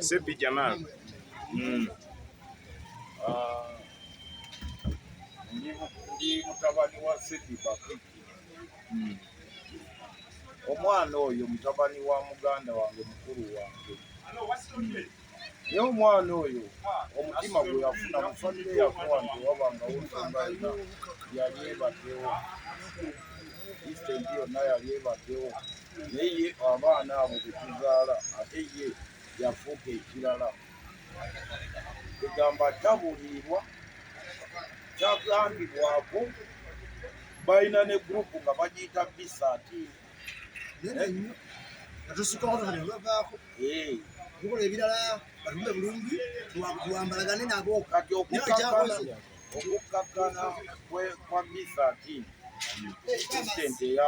Seppi Jamal. Mm. Uh, ndi mutabani wa Seppi Bakiki. Mm. Omwana oyo mutabani wa muganda wange mukulu wange. Mm. Naye omwana oyo omutima gwe yafuna mu famire yakuwa nti wabanga wosanga yona yali ebaddewo. Isitendi yonna yali ebaddewo. Naye ye abaana abo be tuzaala ate ye yafuuka ekirala. Kwegamba tabuliirwa, tagambibwako, balina ne gurupu nga bagiyita bisati tukola ebirala batumbe bulungi tuwambalagane nabo kati okukkakkana kwa bisati president eya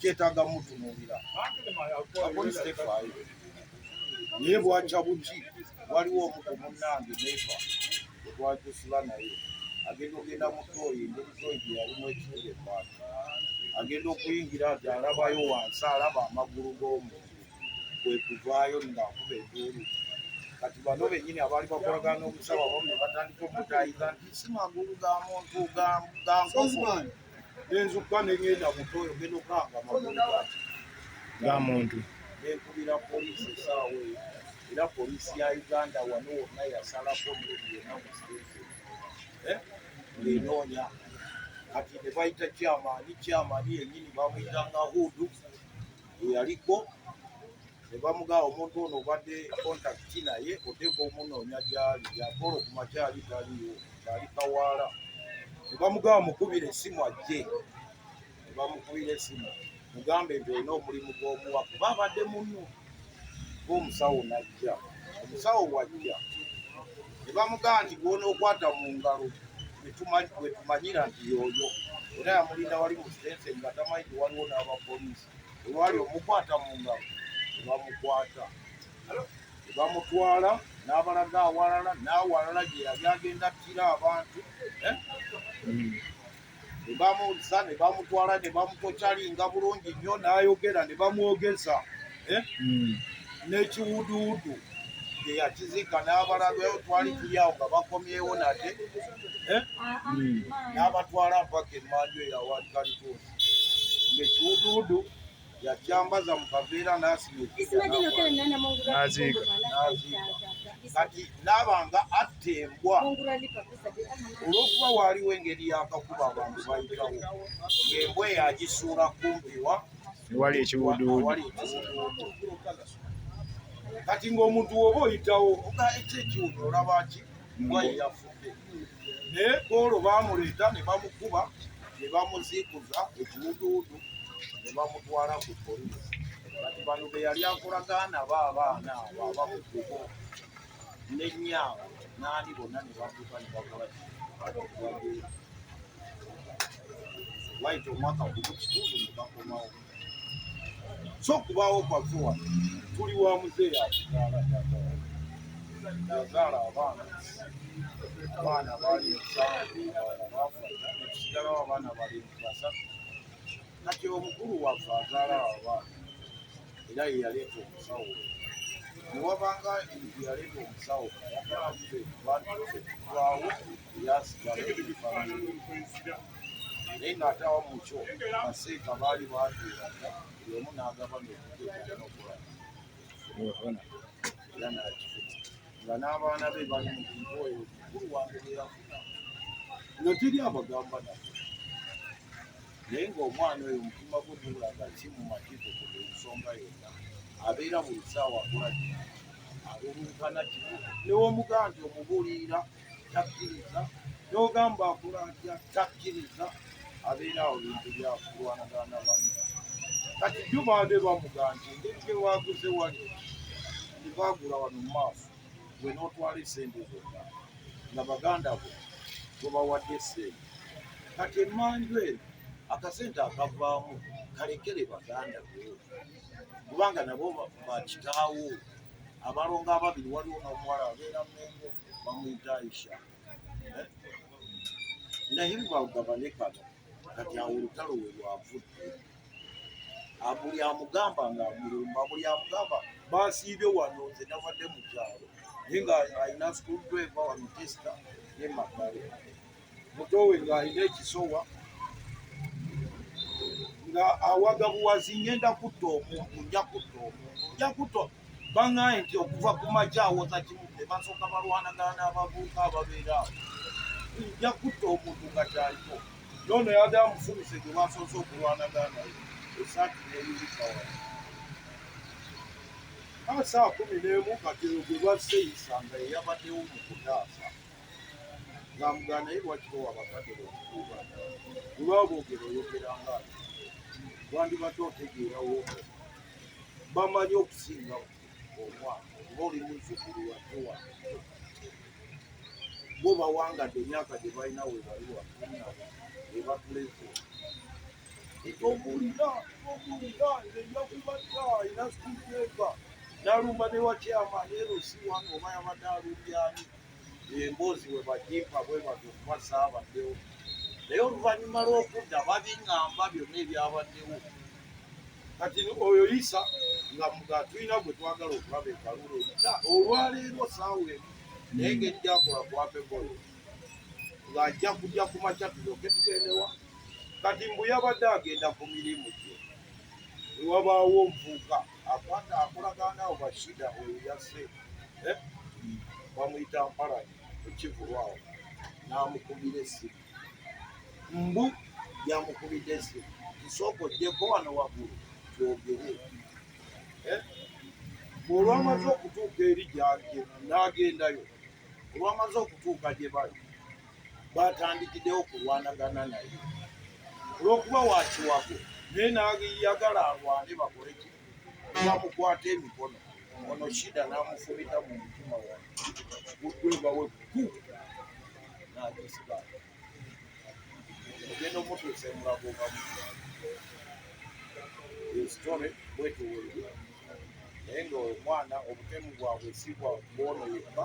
kyetaaga mutunuulira apoliisi tefaayo naye bwakya buki waliwo omuko munnange nefa otwajusula naye agenda okugenda mu tooyi engeri tooyi gye yalimu ekibuga ebbanga agenda okuyingira nti alabayo wansi alaba amagulu g'omuntu kwe kuvaayo ng'akuba enduulu kati bano bennyini abaali bakolagana n'omusawo abamu ne batandika omutaayiza nti si magulu ga muntu ga nkomo nenzukka nengenda mutoyo genda okanga magulugati nga muntu nenkubira poliisi esaawa eyo era poliisi ya uganda wano wonna yasalako noli yona musirete eh? ngenoonya kati nebayita kyamaani kyamaani yenyini bamuyita nga hudu eyaliko ne bamugaa omuntu ono obadde kontakiti naye oteeka omunoonya gyali yakola okumakyali taliyo ali kawaala ne bamugaa mukubira esimu ajje ne bamukubira esimu mugambe nti olina omulimu gw'omuwa kuba abadde munno ngaomusawo najja omusawo wajja ne bamugaa nti gwonookwata mu ngalo wetumanyira nti yooyo era yamulinda wali mu sitense nga tamanyi ti waliwo n'abapoliisi olwali omukwata mu ngalo ne bamukwata ne bamutwala n'abalaga awalala n'awalala gye yali agenda ttira abantu eh? mm. ne bamuzza ne bamutwala ne bamukokyalinga bulungi nnyo n'ayogera ne bamwogeza eh? hmm. n'ekiwuduwudu gye yakiziika n'abalalwewo twali tuli awo nga bakomyewo nate eh? hmm. n'abatwala mpaka emmanju eyawaali kalituusi ng'ekiwuduwudu yakyambaza mu kaveera n'asimaziika kati naaba nga atta embwa olw'okuba waaliwo engeri yakakuba abantu bayitawo ng'embwa eyo agisuula kumpiwa wali ekiwuduwudu kati ng'omuntu woba oyitawo oga ekyekiwudu olabaki mbwa yeyafudde naye olwo baamuleeta ne bamukuba ne bamuziikuza ekiwuduwudu ne bamutwala ku polisi kati bano be yali akolagaana ba abaana abo abakukubo nenyaabo naani bonna ne bakuka ne bakola wayita omwaka gumu kitundu ne bakomawo so kubaawo kwaffe wano tuli wa muzeeyi atuzaala yazaala abaana abaana baali musanvu baafa ekisigalawo abaana bali basatu kati omukulu waffe azaala abaana era ye yaleeta omusawo newabanga yaleeta omusawo ayagala ffe bantu ffe tubaawo naye ng'ate awa mu kyo baseeka baali baatuulaga buli omu n'agaba nokugeaokuba era nakifuta nga n'abaana be bali mu bintu oyo mukulu wange beyafuna nga teri abagamba nabo naye ng'omwana oyo omutima gwe gulaga ki mu makizo ku buli nsonga yonna abeera buli saawa kulagi alulunkana kino newomugandi omubuliira takkiriza n'ogamba akula atya takkiriza abeera awo bintu byakulwanagana banne kati jjo baade bamuga nti engeri gye waaguze wali tebaagula wano mu maaso gwe n'otwala esente zonna nga baganda bo gwebawadde esente kati emmanju eno akasente akavaamu kalekere baganda bo kubanga nabo bakitaawo abalongo ababiri waliwo n'omuwala abeera mengo bamuyita Aisha eh? naye lwagabane kano kati awo olutalo we lwavudde buli amugamba nga amulumba buli amugamba basiibye wano nze nabadde mu kyalo naye nga alina school driver wano testa ne magale mutowe nga alina ekisowa nga awaga buwazi ngenda kutta omuntu nja kutta omuntu nja kutta bangaaye nti okuva ku maja awoza kimu ne basooka balwanagana n'abavuuka ababeera awo nja kutta omuntu nga kyaliko yono yade amufumise gwe basoose okulwanagana naye esaati neyirikawa kaa saa kumi n'emu kati gwe baseeyisa nga eyabaddewo mu kutaasa ng'amugaa naye lwaki bowa bakadde bokukuuba olwaba boogera oyogera nga wandibadde otegeerawo bamanyi okusinga omwana oba oli muzukulu watewa bo bawangadde emyaka gye balina we bali wafunna ebakuleze ekyokubulira okubulira nze njakubadde alina sikuteeka nalumba ne wakyama neero si wano oba yabadde alumbyaani emboozi bwe bagimpa bwe bati okuba saabaddewo naye oluvannyuma lw'okudda babiŋamba byonna ebyabaddewo kati oyo yisa nga tulina gwe twagala okulaba ekalulu eyita olwaleero saawa emu naye ngeri gyakola kwapegolo ng'ajja kujja ku makya tuyoke tugendewa kati mbu yabadde agenda ku mirimu gye ewabaawo nvuuka akwata akolagana awo bashida oyo yase eh? bamuyita mparani ekivulwawo namukubira esimu mbu yamukubidde esimu nsooka ojjeko wano waggulu twogere eh? olwamaze okutuuka eri gyange nagendayo olwamaze okutuuka gye bali baatandikiddewo kulwanagana naye olw'okuba wa kiwago naye nayagala alwane bakole ki bamukwata emikono ono shida n'amufumita mu mutima wa gudweba we ku nagisibaa ogenda omutuusa emulago gamu esitore bwetuwulira naye nga omwana obutemu bwabwe si bwa bwono yekka